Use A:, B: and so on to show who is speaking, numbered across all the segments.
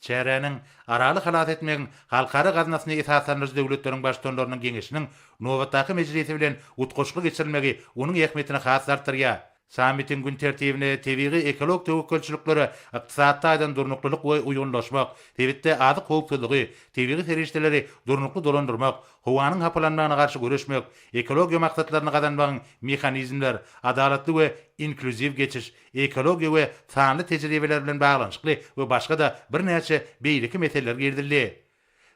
A: Çäräniň Araly halas etmegiň halkara gaznasyny esaslandyryjy döwletleriň Baştutanlarynyň geňeşiniň nobatdaky mejlisi bilen utgaşykly geçirilmegi onuň ähmiýetini has-da artdyrýar. Sammitiň gün tertibine tebigy-ekologik töwekgelçiliklere ykdysady taýdan durnuklylyk we uýgunlaşmak, sebitde azyk howpsuzlygy, tebigy serişdeleri durnukly dolandyrmak, howanyň hapalanmagyna garşy göreşmek, ekologiýa maksatlaryny gazanmagyň mehanizmler, adalatly we inklýuziw geçiş, ekologiýa we sanly tejribeler bilen baglanyşykly we başga-da birnäçe beýleki meseleler girizildi.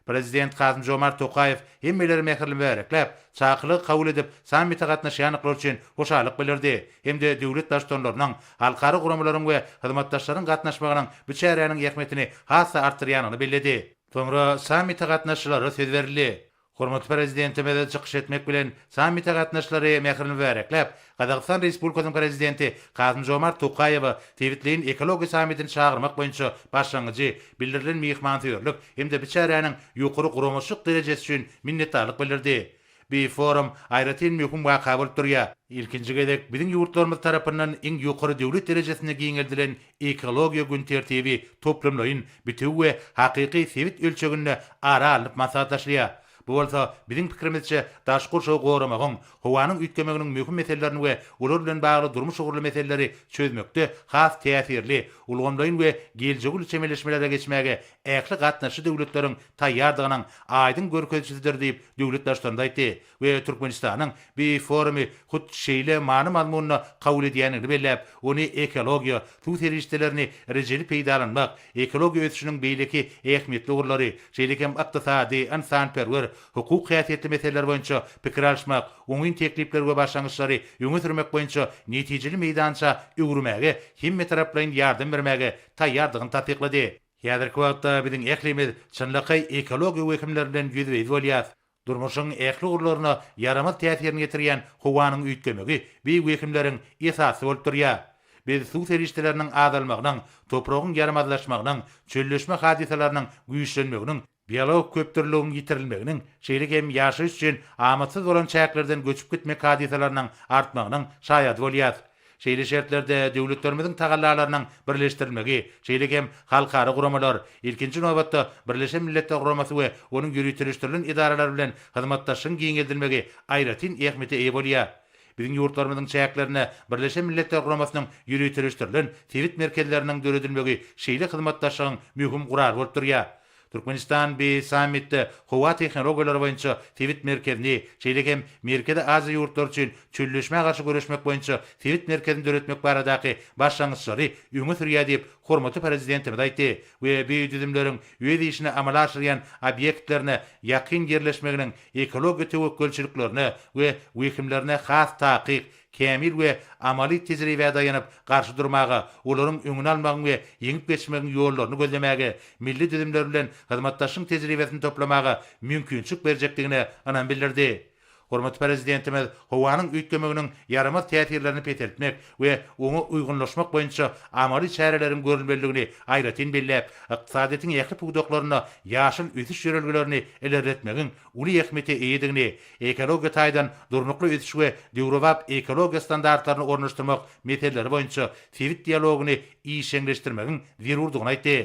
A: Prezident Kasym-Žomart Tokaýew hemmeleri mähirli mübärekläp, çakylygy kabul edip, sammite gatnaşýanlyklar üçin hoşallyk bildirdi hem-de döwlet Baştutanlarynyň, halkara guramalaryň we hyzmatdaşlaryň gatnaşmagynyň bu çäräniň ähmiýetini has-da artdyrýanyny belledi. Soňra sammite gatnaşyjylara söz berildi. Hormatly Prezidentimiz çykyş etmek bilen, sammite gatnaşyjylary mähirli mübärekläp, Gazagystan Respublikasynyň Prezidenti Kasym-Žomart Tokaýewe sebitleýin ekologiýa sammitini çagyrmak boýunça başlangyjy, bildirilen myhmansöýerlik hem-de bi çäräniň ýokary guramaçylyk derejesi üçin minnetdarlyk bildirdi. Bi forum aýratyn möhüm waka bolup durýar. Ilkinji gezek biziň ýurtlarymyz tarapyndan iň ýokary döwlet derejesinde giňeldilen Ekologiýa gün tertibi toplumlaýyn, bitewi we hakyky sebit ölçeginde ara alnyp maslahatlaşylýar. Bu bolsa, biziň pikirimizçe, daşky gurşawy goramagyň, howanyň üýtgemeginiň möhüm meselelerini we olar bilen bagly durmuş ugurly meseleleri çözmekde has täsirli, ulgamlaýyn we geljegi uly çemeleşmelere geçmäge ähli gatnaşyjy döwletleriň taýýardygynyň aýdyň görkezijididir diýip, döwlet Baştutanymyz aýtdy. we Türkmenistanyň bi forumy hut şeýle many-mazmunda kabul edýändigini belläp, ony ekologiýa, suw serişdelerini rejeli peýdalanmak, ekologiýa ösüşiniň beýleki ähmiýetli ugurlary, şeýle hem ykdysady, ynsanperwer, hukuk häsiýetli meseleler boýunça pikir alyşmak, oňyn teklipleri we başlangyçlary öňe sürmek boýunça netijeli meýdança öwürmäge hemmetaraplaýyn ýardam bermäge taýýardygyny tassyklady. Häzirki wagtda biziň ählimiz çynlakaý ekologiýa wehimleri bilen ýüzbe-ýüz bolýarys. Durmuşyň ähli ugurlaryna ýaramaz täsirini ýetirýän howanyň üýtgemegi bi wehimleriň esasy bolup durýar. Biz suw serişdeleriniň azalmagynyň, topragyň ýaramazlaşmagynyň, çölleşme hadysalarynyň güýçlenmeginiň, biologik köpdürlüligiň ýitirilmeginiň, şeýle hem ýaşaýyş üçin amatsyz bolan çäklerden göçüp gitmek hadysalarynyň artmagynyň şaýady bolýarys. Şeýle şertlerde döwletlerimiziň tagallalarynyň birleşdirilmegi, şeýle hem halkara guramalar, ilkinji nobatda, Birleşen Milletler Guramasy we onuň ýöriteleşdirilen edaralary bilen hyzmatdaşlygyň giňeldilmegi aýratyn ähmiýete eýe bolýar. Biziň ýurtlarymyzyň çäklerinde Birleşen Milletler Guramasynyň ýöriteleşdirilen sebit merkezleriniň döredilmegi şeýle hyzmatdaşlygyň möhüm gurally bolup durýar. Türkmenistan bi sammitde howa tehnologiýalary boýunça sebit merkezini, şeýle hem Merkezi Aziýa ýurtlary üçin çölleşmä garşy göreşmek boýunça sebit merkezini döretmek baradaky başlangyçlary öňe sürýär diýip, hormatly Prezidentimiz aýtdy we bi düzümleriň öz işini amala aşyrýan obýektlerine ýakyn ýerleşmeginiň ekologiýa töwekgelçiliklerine we wehimlerine has takyk kämil we amaly tejribä daýanyp, garşy durmaga, olaryň öňüni almagyň we ýeňip geçmegiň ýollaryny gözlemäge, milli düzümler bilen hyzmatdaşlygyň tejribesini toplamaga mümkinçilik berjekdigine ynam bildirdi. Hormatly Prezidentimiz howanyň üýtgemeginiň ýaramaz täsirlerini peseltmek we oňa uýgunlaşmak boýunça amaly çäreleriň görülmelidigini aýratyn belläp, ykdysadyýetiň ähli pudaklarynda ýaşyl ösüş ýörelgelerini ilerletmegiň uly ähmiýete eýedigini, ekologiýa taýdan durnukly ösüş we döwrebap ekologiýa standartlaryny ornaşdyrmak meseleleri boýunça sebit dialogyny işjeňleşdirmegiň zerurdygyny aýtdy.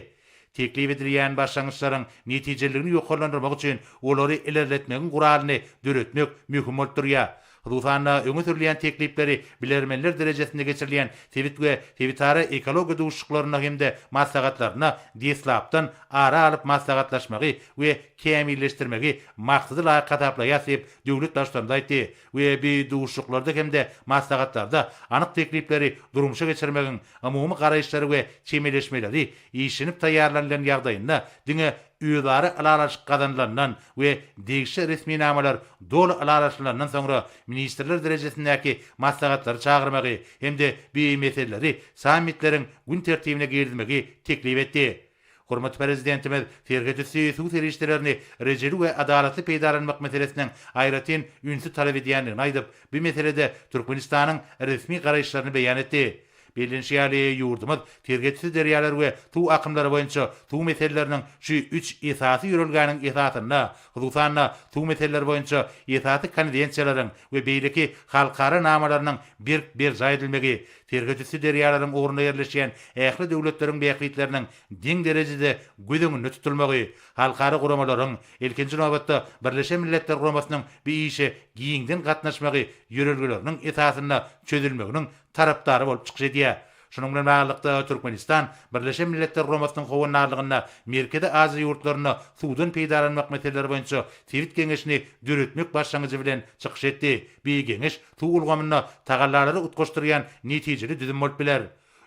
A: Teklip edilýän başlangyçlaryň netijeliligini ýokarlandyrmak üçin olary ilerletmegiň guralyny döretmek möhüm bolup durýar. Hususan-da, öňe sürülýän teklipleri bilermenler derejesinde geçirilýän sebit we sebitara ekologiýa duşuşyklarynda hem-de maslahatlarynda deslapdan ara alyp maslahatlaşmagy we kämilleşdirmegi maksada laýyk hasaplaýarys diýip, döwlet Baştutanymyz aýtdy we bi duşuşyklarda hem-de maslahatlarda anyk teklipleri durmuşa geçirmegiň umumy garaýyşlary we çemeleşmeleri işlenip taýýarlanylan ýagdaýynda diňe özara ylalaşyk gazanylandan we degişli resminamalar doly ylalaşylandan soňra ministrler derejesindäki maslahatlary çagyrmagy hem-de bu meseleleri sammitleriň gün tertibine girizmegi teklip etdi. Hormatly Prezidentimiz serhetüsti suw serişdelerini rejeli we adalatly peýdalanmak meselesiniň aýratyn ünsi talap edýändigini aýdyp, bu meselede Türkmenistanyň resmi garaýyşlaryny beýan etdi. Bellenişi ýaly, ýurdumyz serhetçi derýalar we suw akymlary boýunça suw meseleleriniň şu üç esasy ýörelgäniň esasynda, hususan-da, suw meseleleri boýunça esasy konwensiýalaryň we beýleki halkara namalarynyň berk berjaý edilmegi, serhetüsti derýalaryň ugrunda ýerleşýän ähli döwletleriň bähbitleriniň deň derejede göz öňünde tutulmagy, halkara guramalaryň, ilkinji nobatda, Birleşen Milletler Guramasynyň bu işe giňden gatnaşmagy ýörelgeleriniň esasynda çözülmeginiň tarapdary bolup çykyş edýär. Şunuň bilen baglylykda, Türkmenistan Birleşen Milletler Guramasynyň Howandarlygynda Merkezi Aziýa ýurtlarynda suwdan peýdalanmak meseleleri boýunça sebit geňeşini döretmek başlangyjy bilen çykyş etdi. Bi geňeş suw ulgamynda tagallalary utgaşdyrýan netijeli düzüm bolup biler.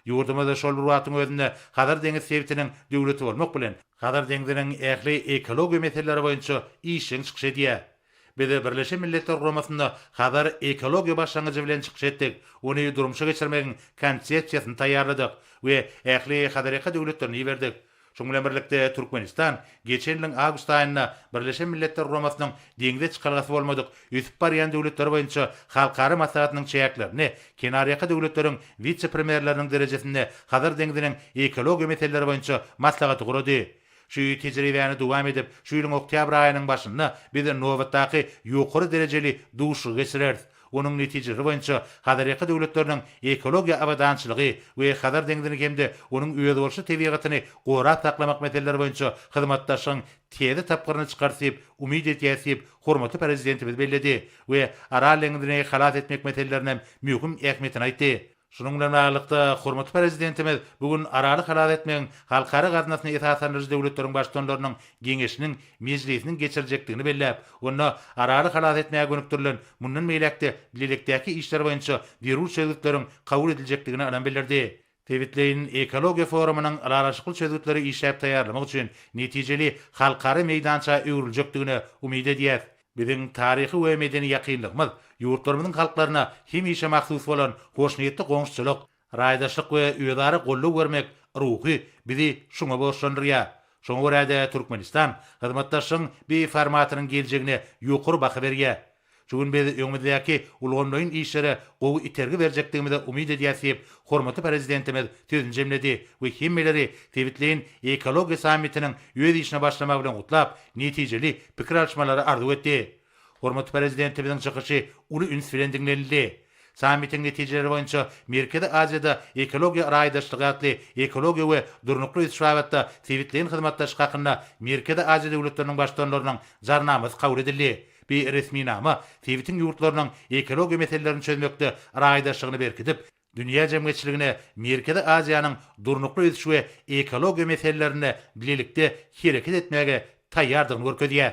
A: Ýurdumyz şol bir wagtyň özünde Hazar deňiz sebitiniň döwleti bolmak bilen, Hazar deňziniň ähli ekologiýa meseleleri boýunça işjeň çykyş edýär. Biz Birleşen Milletler Guramasynda Hazar ekologiýa başlangyjy bilen çykyş etdik, ony durmuşa geçirmegiň konsepsiýasyny taýýarladyk we ähli Hazarýaka döwletlerine iberdik. Şunuň bilen birlikde, Türkmenistan geçen ýylyň awgust aýynda Birleşen Milletler Guramasynyň Deňze çykalgasy bolmadyk ösüp barýan döwletler boýunça halkara maslahatynyň çäklerinde kenarýaka döwletleriň wise-premýerleriniň derejesinde Hazar deňziniň ekologiýa meseleleri boýunça maslahaty gurady. Şu tejribäni dowam edip, şu ýylyň oktýabr aýynyň başynda biz nobatdaky ýokary derejeli duşuşygy geçireris. Onuň netijeleri boýunça Hazarýaka döwletleriniň ekologiýa abadançylygy we Hazar deňzini hem-de onuň özboluşly tebigatyny gorap saklamak meseleleri boýunça hyzmatdaşlygyň täze tapgyryny çykarys diýip umyt edýäris diýip, hormatly Prezidentimiz belledi we Aral deňzini halas etmek meselelerinem möhüm ähmiýetini aýtdy. Şunuň bilen baglylykda, hormatly Prezidentimiz bu gün Araly halas etmegiň Halkara gaznasyny esaslandyryjy döwletleriň Baştutanlarynyň Geňeşiniň mejlisiniň geçiriljekdigini belläp, onda Araly halas etmäge gönükdirilen mundan beýläk-de bilelikdäki işler boýunça zerur çözgütleriň kabul ediljekdigini ynam bildirdi. Sebitleýin ekologiýa forumynyň ylalaşykly çözgütleri işläp taýýarlamak üçin netijeli halkara meýdança öwrüljekdigine umyt edýäris. Biziň taryhy we medeni ýakynlygymyz, ýurtlarymyzyň halklaryna hemişe mahsus bolan hoşniýetli goňşuçylyk, raýdaşlyk we özara goldaw bermek ruhy bizi şuňa borçlandyrýar. Şoňa görä-de, Türkmenistan hyzmatdaşlygyň bir formatynyň geljegine ýokary baha berýär. Şu gün biz öňümizdäki ulgamlaýyn işlere gowy itergi berjekdigimize umyt edýäs diýip, hormatly Prezidentimiz sözüni jemledi we hemmeleri sebitleýin ekologiýa sammitiniň öz işine başlamagy bilen gutlap, netijeli pikir alyşmalary arzuw etdi. Hormatly Prezidentimiziň çykyşy uly üns bilen diňlenildi. Sammitiň netijeleri boýunça Merkezi Aziýada ekologiýa raýdaşlygy atly ekologiýa we durnukly ösüş babatda sebitleýin hyzmatdaşlyk hakynda Merkezi Aziýa döwletleriniň Baştutanlarynyň Jarnamasy kabul edildi. Bi resminama sebitiň ýurtlarynyň ekologiýa meselelerini çözmekde raýdaşlygyny berkidip, Dünýä jemgyýetçiligine Merkezi Aziýanyň durnukly ösüş we ekologiýa meselelerinde bilelikde hereket etmäge taýýardygyny görkezýär.